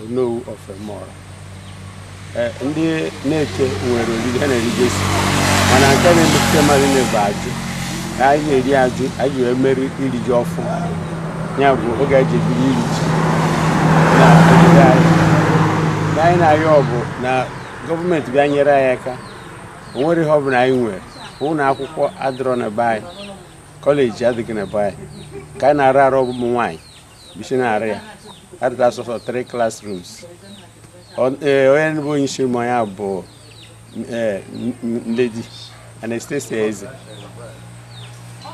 Onowu of Emeora. Eh, ndị Neke nwere oriri ha na-erigesi mana nke na-emetụta mmadụ niile bụ ajụ anyị na-eri ajụ anyị wee mere iri ji ọfụ ya bụ oge e ji ebiri iri ji na nke anyị na-arịọ bụ na gọọmenti bịa nyere anyị aka o nwere ihe ọ bụla anyị nwere ụlọ akwụkwọ adịrọ na be anyị kọleji adịghị na be anyị nke anyị na-arụ arụ bụ ụmụ nwaanyị bu isi na-arụ ya arụta sọsọ three classrooms e, onye bụ onye isi ụmụ ya bụ e, Lady Anastasia Eze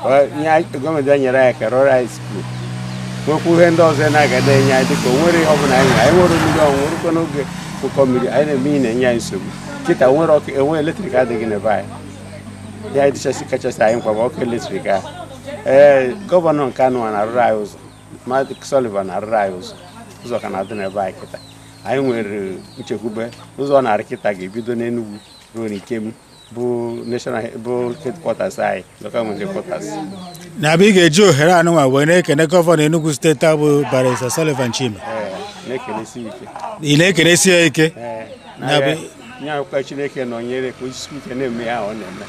gọọmenti bịa nyere anyị aka rụrụ anyị skuul nwekwa ihe ndị ọzọ na-agada enye anyị dịka onwere ihe ọbụla anyị anyị nwere mmiri ọnwụnwụ e rukwa n'oge ụkọ mmiri anyị na-eme ihe na-enye anyị nsogbu kịta nwere ọkụ enwe eletrik adịghị na be anyị ihe dịchasị kachasị anyị mkpa bụ ọkụ eletrik ahụ ee gọvanọ nke anụwa na-arụrụ anyị ụzọ Maazị Sullivan na-arụrụ anyị ụzọ ụzọ ka na-adị na be anyị kịta anyị nwere nchekwube ụzọ ọ na-arụ kịta ga-ebido n'Enugwu ruo n'Ikem bụ national bụ headquarters anyị local government headquarters nya bụ ị ga-eji ohere anụnwa wee na-ekene gọvanọ Enugu steeti bụ Barrister Sullivan Chime ee na-ekenesi ike ị na-ekenesi ya ike ee nya bụ na-ayọkwa ka chineke nọnyere ya ka o jisi ike na-eme ihe ọ na-eme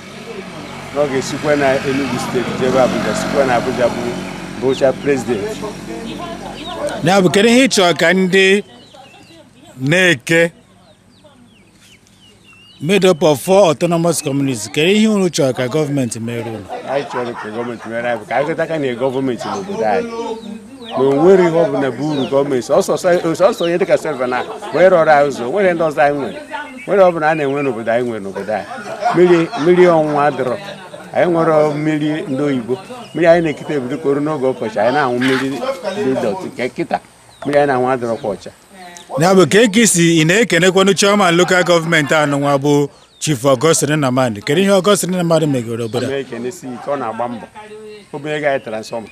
na ọ ga-esikwa na Enugu steeti jebe Abuja sikwa na Abuja bụrụcha prezidenti ya bụ kedu ihe ị chọrọ ka ndị Neke made up of four autonomous communities kedu ihe unu chọrọ ka gọọmenti mere unu anyị chọrọ ka gọọmenti mere anyị bụ ka anyị ghọtakwa na gọọmenti n'obodo anyị na onwere ihe ọbụla bụ uru gọọmenti ọ sọsọ onye dịka Sullivan wee rụọrọ anyị ụzọ nwere ndị ọzọ anyị nwere nwere ọbụla a na-enwe n'obodo anyị nwere n'obodo anyị mmiri ọnwụnwụ adịrọ anyị nwere mmiri ndị oyibo mmiri anyị na-ekute e bido kọrọ n'oge ọkọchị anyị na-anwụ mmiri dị dọtị nke kịta mmiri anyị na-anwụ adịrọkwa ọcha ya bụ kee ka i si na-ekenekwanụ chairman lokal gọọmenti anụnwa bụ Chief Augustine Nnamani kedu ihe Augustine Nnamani megoro obodo a? ekenesi ike ọ na-agba mbọ o butere anyị transfọma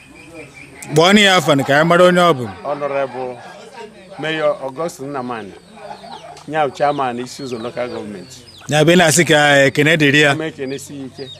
kpọọ ya afa nụ ka anyị mara onye ọ bụ Honorable Mayor Augustine Nnamani nya bụ chairman Isi-Uzo local gọọmenti ya bụ ị na-asị ka ekene dịrị ya a na m ekenesi ike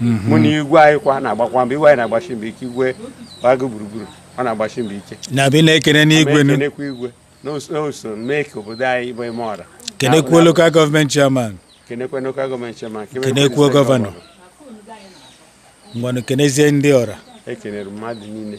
mhm. mụ na igwe anyị kwa na-agbakwa mbọ igwe anyị na-agbasi mbọ ike igwe agụ gburugburu ọ na-agbasi mbọ ike nya bụ ị na-ekene igwe na-ekenekwa igwe na o so mee ka obodo anyị bụ Emeora kenekwuo lokal gọọmenti chairman kenekwa lokal gọọmenti chairman kenekwuo gọvanọ ngwanụ kenezie ndị ọra ekenere mmadụ niile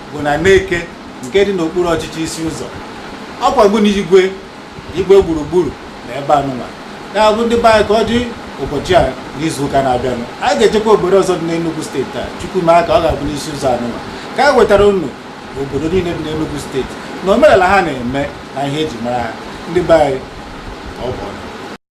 bụ na Neke nke dị n'okpuru ọchịchị Isi Ụzọ ọkwa gị na igwe igwe gburugburu na ebe anụnwa ya bụ ndị be anyị ka ọ dị ụbọchị a n'izu ụka na-abịanụ anyị ga-echekwa obodo ọzọ dị n'Enugu steeti a Chukwu ma ka ọ ga-abụ n'Isi Ụzọ anụnwa ka anyị wetara unu obodo niile dị n'Enugu steeti na omenala ha na-eme na ihe eji mara ha ndị be anyị ọ bụ ọnụ